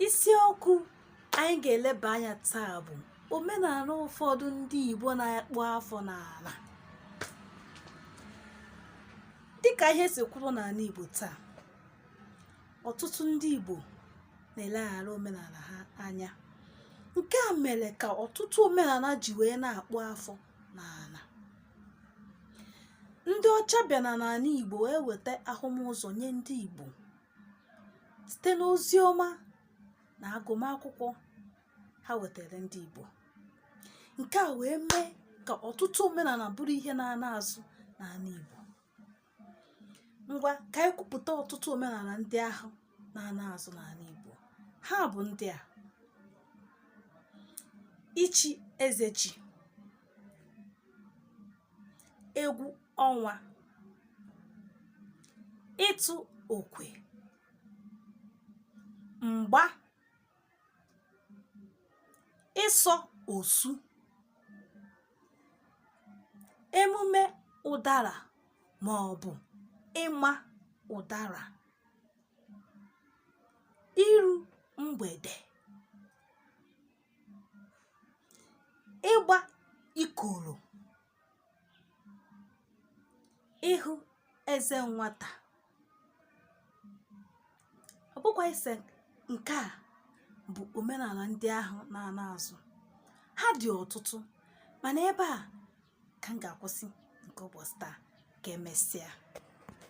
isiokwu anyị ga-eleba anya taa bụ omenala ụfọdụ ndị Igbo na-akpụ afọ n'ala dịka ihe si kwụrụ n'ala Igbo taa ọtụtụ ndị Igbo na-eleghara omenala ha anya nke a mere ka ọtụtụ omenala ji wee na-akpụ afọ n'ala ndị ọcha bịa na n'ala Igbo wee weta ahụmụzọ nye ndị Igbo site n'ozi ọma na agụmakwụkwọ ha wetara ndị Igbo nke a wee mee ka ọtụtụ omenala bụrụ ihe na-ana azụ n'ala Igbo ngwa ka anyị kwupụta ọtụtụ omenala ndị ahụ na-ana azụ n'ala Igbo ha bụ ndị a ichi eze ji egwu ọnwa ịtụ okwe mgba ịsọ osu emume ụdara ma ọ bụ ịma ụdara iru mgbede ịgba ikoro ịhụ eze nwata ọ bụkwa ise nke a bụ omenala ndị ahụ na-ana azụ ha dị ọtụtụ mana ebe a ka m ga-akwụsị nke ụbọchị taa ka emesịa